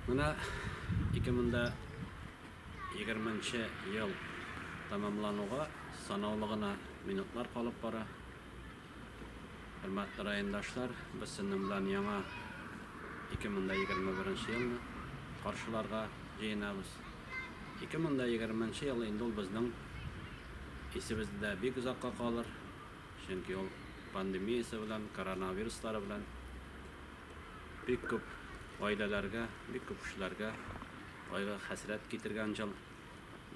Менә ике мең дә егерменче ел тәмамлануга санаулы гына минутлар калып бара. Хөрмәтле райондашлар, без сезнең белән яңа 2021 елны каршыларга җыенабыз. 2020 ел инде ул безнең исебездә бик озакка калыр, чөнки ул пандемиясе белән, коронавируслары белән Бик күп гаиләләргә, бик күп кешеләргә кайгы, хәсрәт китергән җыл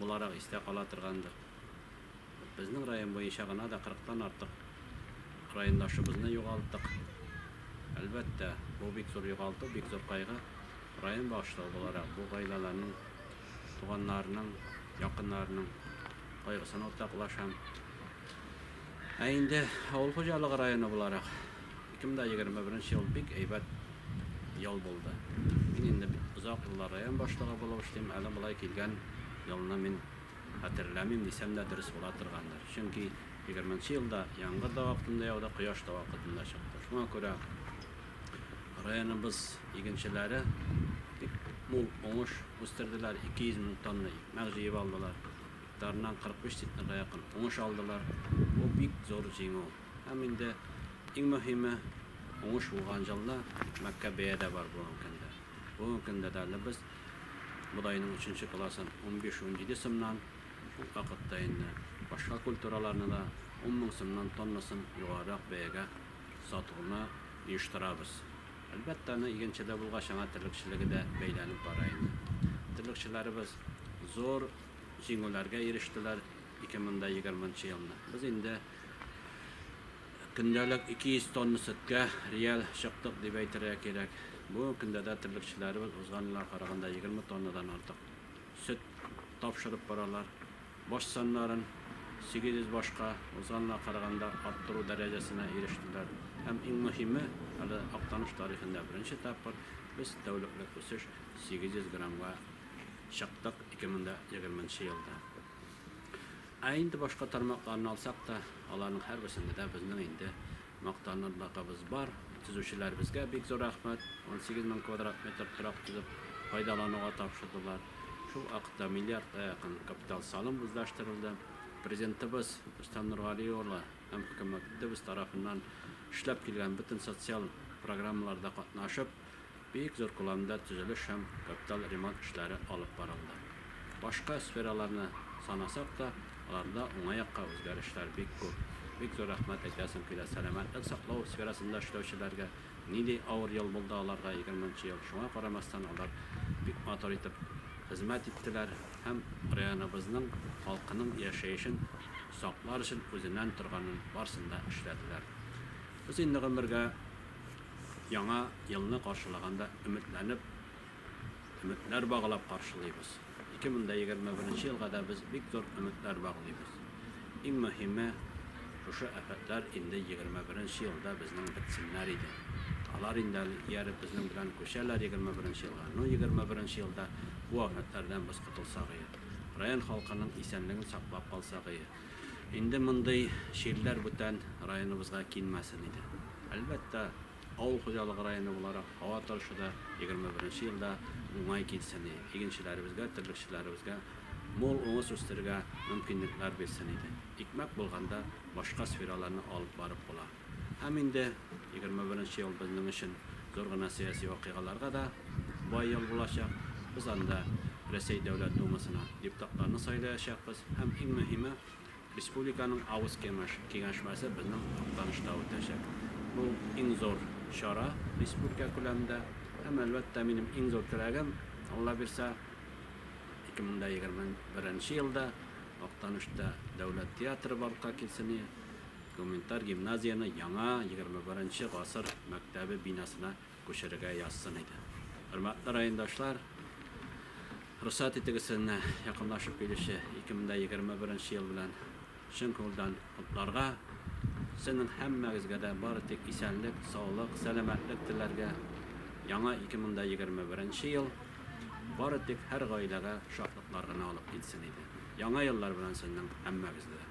буларак истә кала торгандыр. Безнең район буенча гына да 40 тан артык райондашыбызны югалттык. Әлбәттә, бу бик зур югалту, бик зур кайгы. Район башлыгы буларак бу гаиләләрнең, туганнарының, якыннарының кайгысын уртаклашам. Ә инде авыл хуҗалыгы районы буларак, 2021 ел бик әйбәт ел булды. Мин инде бит озак еллар район башлыгы булып эшлим, әле болай килгән елны мин хәтерләмим дисәм дә дөрес була торгандыр. Чөнки 20 нчы елда яңгыр да вакытында яуды, кояш та вакытында чыкты. Шуңа күрә районыбыз игенчеләре бик мул уңыш үстерделәр, 200 мең тонна икмәк җыеп алдылар, гектарыннан 45 центнерга якын уңыш алдылар. Бу бик зур җиңү. Һәм инде иң мөһиме, уңыш булган җылны мәккә бәя дә бар бүгенге көндә. Бүгенге көндә дә әле без бодайның өченче классын 15-17 сымнан, шул вакытта инде башка культураларны да 10 мең сымнан тоннасын югарырак бәягә сатуны оештырабыз. Әлбәттә, аны игенчедә булгач, аңа терлекчелеге дә бәйләнеп бара инде. Терлекчеләребез зур җиңүләргә ирештеләр 2020 елны. Без инде Көндәлек 200 тонна сөткә реаль чыктык дип әйтергә кирәк. Бу көндә дә терлекчеләребез узган елга караганда 20 тоннадан артык сөт тапшырып баралар. Баш саннарын 800 башка узган елга караганда арттыру дәрәҗәсенә ирештеләр. Һәм иң мөһиме, әле Актаныш тарихында беренче тапкыр без тәүлеклек үсеш 800 граммга чыктык 2020 елда. Ә инде башка тармакларны алсак та, аларның һәрберсендә дә безнең инде мактанырлыгыбыз бар. Төзүчеләребезгә бик зур рәхмәт, 18 мең квадрат метр торак төзеп, файдалануга тапшырдылар. Шул вакытта миллиардка якын капиталь салым үзләштерелде. Президентыбыз Рөстәм Нургали улы һәм хөкүмәтебез тарафыннан эшләп килгән бөтен социаль программаларда катнашып, Бик зур күләмдә төзелеш һәм капиталь ремонт эшләре алып барылды. Башка сфераларны санасак та, аларда уңай якка үзгәрешләр бик күп. Бик зур рәхмәт әйтәсем килә сәламәтлек саклау сферасында эшләүчеләргә. Нинди авыр ел булды аларга егерме нче ел, шуңа карамастан алар бик матур итеп хезмәт иттеләр һәм районыбызның халкының яшәешен саклар өчен үзеннән торганын барсын да эшләделәр. Без инде гомергә. Яңа елны каршылаганда өметләнеп, өметләр баглап каршылыйбыз. 2021 елга да без бик зур өметләр баглыйбыз. Иң мөһиме, шушы афәтләр инде 21 елда безнең бетсеннәр иде. Алар инде әле ияреп безнең белән күчәләр 21 елга. Ну, 21 елда бу афәтләрдән без котылсагые, район халкының исәнлеген саклап калсагые. Инде мондый чирләр бүтән районыбызга килмәсен иде. Әлбәттә, авыл хуҗалыгы районы буларак һава торышы да 21 елда уңай килсен иде. Игенчеләребезгә, терлекчеләребезгә мул уңыш үстерергә мөмкинлекләр бирсен иде. Икмәк булганда башка сфераларны алып барып була. Һәм инде егерме беренче ел безнең өчен зур гына сәяси вакыйгаларга да бай ел булачак. Без анда Рәсәй Дәүләт Думасына депутатларны сайлаячакбыз һәм иң мөһиме, республиканың авыз кемеш киңәшмәсе безнең Актанышта үтәчәк. Бу иң зур чара республика күләмендә һәм, әлбәттә, минем иң зур теләгем, Алла бирса, ике мең дә егерме беренче елда Актанышта дәүләт театры барлыкка килсене. Гуманитар гимназияне яңа, егерме беренче гасыр мәктәбе бинасына күчерергә язсын иде. Хөрмәтле райондашлар, рөхсәт итегез сезне якынлашып килүче 2021 ел белән чын күңелдән котларга. Сезнең һәммәгезгә дә бары тик исәнлек, саулык, сәламәтлек теләргә. Яңа 2021 ел бары тик һәр гаиләгә шатлыклар гына алып килсен иде. Яңа еллар белән сезнең һәммәгезне дә!